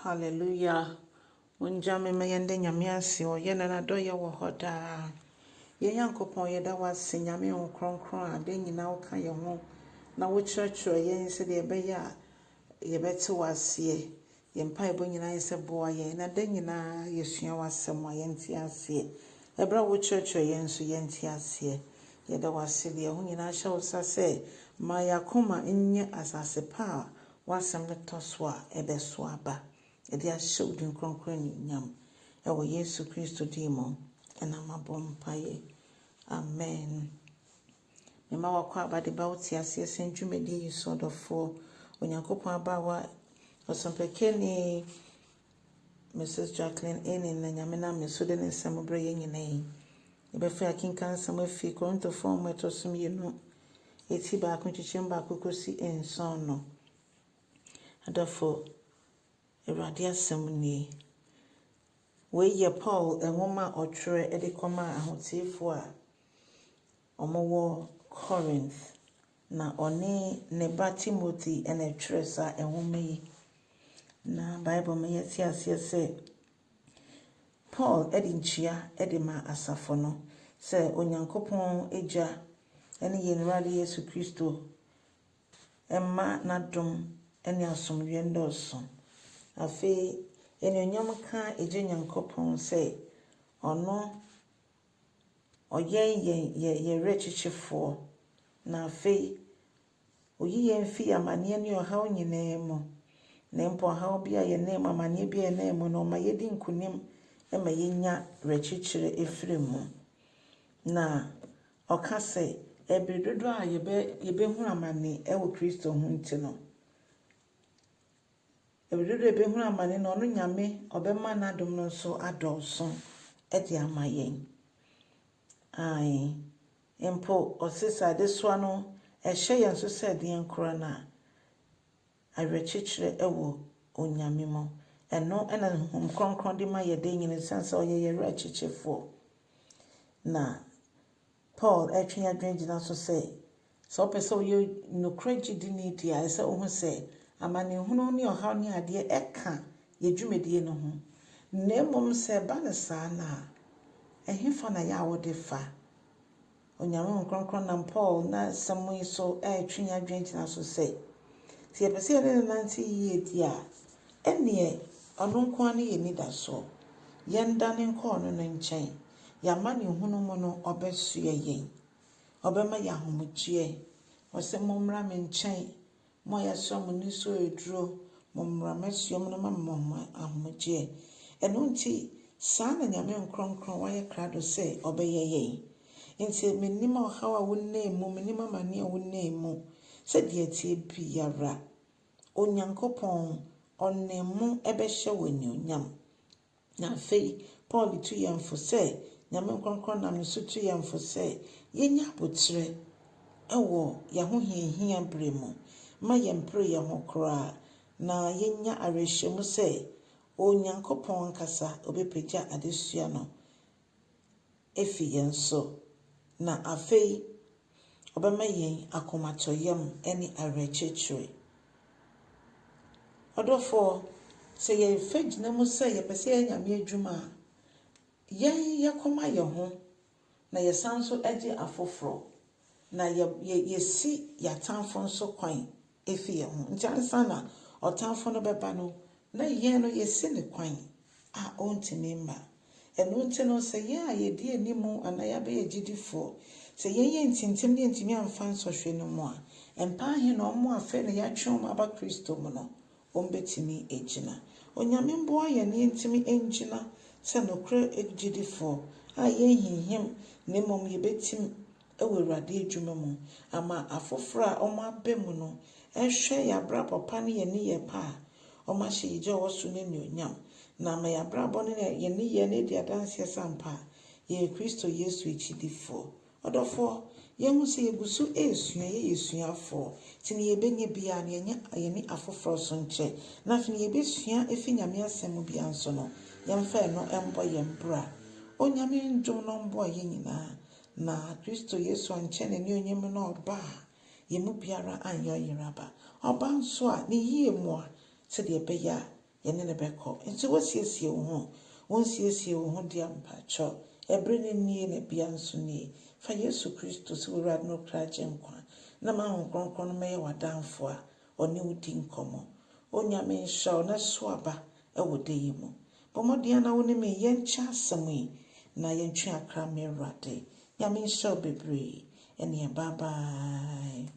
Hallelujah Mongya me ma yɛnda Nyame ase o Yɛ na nadɔyɛ wɔ hɔ daa Yɛ Nyankopɔn yɛda wo ase Nyame wo krɔnkrɔn a da nyina wo ka yɛ ho Na wo kyerɛkyerɛ yɛn sɛdeɛ ɛbɛyɛ a yɛbɛte wo aseɛ Yɛ mpaebɔ nyina yɛ sɛ boa yɛn na da nyina yɛ sua w'asɛm a yɛnte aseɛ Ɛberɛ a wo kyerɛkyerɛ yɛn nso yɛnte aseɛ Yɛda wo ase deɛ ɛho nyina hyɛ wo sa sɛ Ma yɛ akoma nyɛ asase pa a W'asɛm no tɔ so a, ɛbɛso aba, de ahyɛ wo din kronkron anuonyam. Wɔ Yesu Kristo din mu na mabɔ mpaeɛ. Amen. Mema w'akwaaba de ba wo teaseɛ sɛn dwumadie yi so, ɔdɔfoɔ, Onyankopɔn abaawa, Ɔsɔmpɛkani, Mrs. Jacqueline Enin na Nyame nam ne so de ne nsɛm brɛ yɛn nyinaa yi. Yɛbɛfa akenkan nsɛm afi Korintofoɔ nwoma a ɛtɔ so mmienu, eti baako nkyekyɛm baako kɔsi nson no. Adɔfo, Awurade asɛm nie. Wei yɛ Paul nwoma a ɔtwerɛ de kɔmaa ahoteefoɔ a Wɔwɔ Corinth, na ɔne ne ba Timothy na ɛtwerɛ saa nwoma yi. Na Bible ma yɛte aseɛ sɛ Paul de nkyia de ma asafo no sɛ Onyankopɔn Agya ne yɛn Awurade Yesu Kristo mma n'adom ne asomdwoeɛ nnɔɔso. Afei, anuonyam nka Agya Nyankopɔn sɛ ɔno Ɔyɛ yɛn yɛn yɛn Werɛkyekyefoɔ, na afei Ɔyi yɛn fi amaneɛ ne ɔhaw nyinaa mu, na mpo ɔhaw bi a yɛnam mu, amaneɛ bi a yɛnam mu no, Ɔma yɛdi nkonim ma yɛnya werɛkyekyerɛ firi mu. Na Ɔka sɛ, ɛberɛ dodoɔ a yɛbɛ yɛbɛhunu amane wɔ Kristo ho nti no, Bere dodow a yebehunu amane no, ɔno Nyame ɔbɛma n'adom no nso adɔɔso de ama yɛn. Aane, mpo ɔse sɛ adesoa no ɛhyɛ yɛn so sɛ deɛn koraa no a, awerɛkyekyerɛ wɔ Onyame mu. Ɛno na ne Honhom Kronkron de ma yɛ da nyinaa esiane sɛ ɔyɛ yɛn Werɛkyekyefoɔ. Na Paul retwe yɛn adwene gyina so sɛ, sɛ wopɛ sɛ woyɛ nokorɛ gyidini deɛ a, ɛsɛ sɛ wohu sɛ amanehunu ne ɔhaw ne adeɛ ka yɛn dwumadie no ho. Na mmom sɛ ɛba no saa no a, ɛhefa na yɛ a wode fa? Onyame Honhom Kronkron nam Paul n'asɛm yi so retwe yɛn adwene gyina so sɛ, sɛ yɛpɛ sɛ yɛne no nante yie deɛ a, ɛnneɛ ɔno nko ara ne yɛn anidasoɔ. Yɛndane nkɔ ɔno no nkyɛn. Y'amanehunu mu no ɔbɛsoɛ yɛn, ɔbɛma yɛn ahomegyeɛ. Ɔse mommra me nkyɛn, mo a yɛasra mo nisuo aduro, mommra m'asuo mu na mama mo ahomegyeɛ. Ɛno nti, saa na Nyame nkorɔnkorɔn wayɛ krado sɛ ɔbɛyɛ yɛn. Enti mennim ɔhaw a wonam mu, mennim amaneɛ a wonam mu, sɛ deɛ ɛteɛ biara, Onyankopɔn, Ɔne mo bɛhyɛ wo anuonyam. Na afei Paul tu yɛn fo sɛ, Nyame nkorɔnkorɔn nam ne so tu yɛn fo sɛ, yɛnyɛ aboterɛ wɔ y'ahohiahia berɛ mu, mma yɛmpere yɛn ho koraa, na yɛnya awerɛhyɛmu sɛ Onyankopɔn ankasa ɔbɛpagya adesua no afi yɛn so, na afei ɔbɛma yɛn akomatɔyam ne awerɛkyekyerɛ. Ɔdɔfoɔ, sɛ yɛfa gyina mu sɛ yɛpɛ sɛ yɛyɛ Nyame adwuma a, yɛn yɛkɔma yɛn ho na yɛsan nso gye afoforɔ, na yɛsi yɛatamfo nso kwan afi yɛn ho. Nti ansa na ɔtamfo no bɛba no, na yɛn no yɛasi no kwan a ɔntumi mma. Ɛno nti no, sɛ yɛn a yɛdi anim anaa yɛabɛyɛ gyidifo, sɛ yɛnyɛ ntintim ne yɛantumi amfa nsɔhwɛ no mu a, mpa ahe na wɔn a afei na yɛatwe wɔn aba Kristo mu no, wɔbɛtumi agyina. Onyame mmoa yɛn na yɛntumi ngyina sɛ nokorɛ gyidifo a yɛnhinhim na mmom yɛbɛtim. wɔ Awurade adwuma mu ama afoforo a wɔaba mu no hwɛ yɛn abrabɔ pa ne yɛn nneyɛe pa a, wɔahyɛ Yegya a ɔwɔ soro no anuonyam, na ama yɛn abrabɔ ne yɛn nneyɛe no adi adanseɛ sɛ ampa yɛyɛ Kristo Yesu akyidifoɔ. Ɔdɔfoɔ, yɛahu sɛ yɛgu so resua, yɛyɛ asuafoɔ, nti nea yɛbɛnya biara no, yɛnyɛ yɛne afoforo so nkyɛ, na afei nea yɛbɛsua afiri Nyame Asɛm mu biara nso no, yɛmfa ɛno mmɔ yɛn bra. Onyame ndom no mmɔɔ yɛn nyinaa Na Kristo Yesu annkyɛ n'anuonyam no a ɔba a, yɛn mu biara anyɛ ɔyere aba. Ɔba nso a, ne yie mu a, sɛdeɛ ɛbɛyɛ a yɛne no bɛkɔ. Nso woasiesie wo ho? Wonsiesiee wo ho dea? Mpakyɛ, ɛberɛ no nie, na bia nso nie. Fa Yesu Kristo sɛ w'Awurade ne wo kra Agyenkwa, na ma Honhom Kronkron no mmɛyɛ w'adamfoɔ a, ɔne wo di nkɔmmɔ. O Nyame, nhyira wo na so aba wɔ da yi mu. Bɔ mmɔden ara na wo ne me yɛnkyɛ asɛm yi na yɛntwe akra, m'Awurade. Nyame nhyira wo bebree. Ɛnneɛ bye bye.